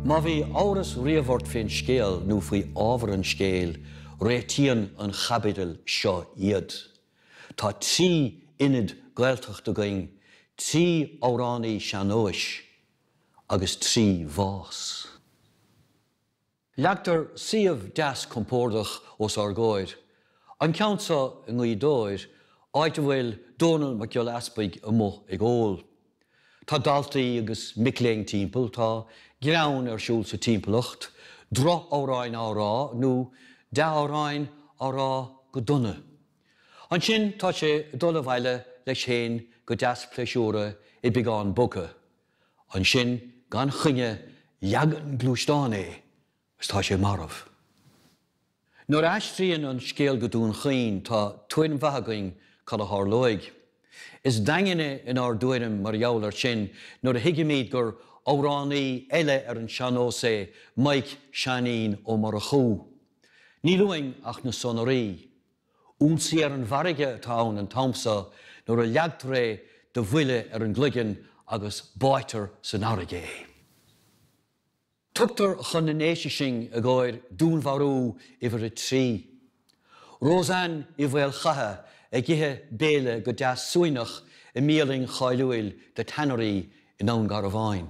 Má bhí amhras roimhe ort fén scéal nó faoi ábhar an scéil, réitíonn an chaibidil seo iad. Tá trí Ionad Gaeltacht againn, trí amhránaí sean-nóis agus trí bhás. Leagtar suíomh deas compórdach os ár gcomhair, an ceann seo i nGaoth Dobhair, áit a bhfuil Dónall Mac Giolla Easpaig amuigh ag ól. Tá daltaí agus mic léinn timpeall, tá greann ar siúl sa timpeallacht, droch-amhráin á rá nó dea-amhráin á rá go dona. Ansin tá sé ag dul abhaile leis fhéin go deas pléisiúrtha, beagán bogtha. Ansin gan choinne leagann gluaisteán é agus tá sé marbh. Nuair a aistríonn an scéal go Dún Chaoin tá tuairim mhaith againn cad a tharlóidh. Is daingne inár dtuairim mar gheall ar sin nuair a thuigimíd gur amhránaí eile ar an seannós é Mike Seáinín Ó Murchú. Níl uainn ach na sonraí. Ionsaí ar an bhfarraige atá ann an t-am so nuair a leagtar é de bhuille ar an gcloigeann agus báidhtear san fharraige é. Tugtar chun na nDéise sinn i gcóir dúnmharú uimhir a trí. Roseann Uí Mhaolchatha ag ithe béile go deas suaimhneach i mbialann cháiliúil The Tannery i nDún Garbhán.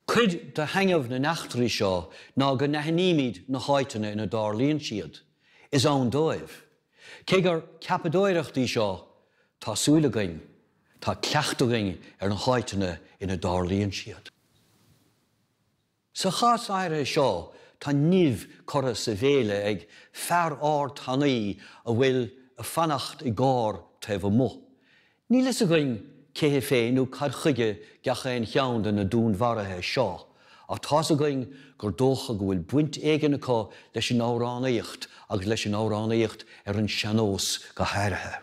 Cuid de thaitneamh na n-eachtraí seo ná go n-aithnímid na háiteanna ina dtarlaíonn siad. Is ann dóibh. Cé gur ceapadóireacht í seo, tá súil againn, tá cleachtadh againn ar na háiteanna ina dtarlaíonn siad. Sa chás áirithe seo, tá nimh curtha sa bhéile ag fear ard thanaí a bhfuil a fanacht i gcarr taobh amuigh. Níl fhios againn cé hé féin nó cad chuige gach aon cheann de na dúnmharuithe seo, ach tá's againn gur dócha go bhfuil baint éigin acu leis an amhránaíocht agus leis an amhránaíocht ar an seannós go háirithe.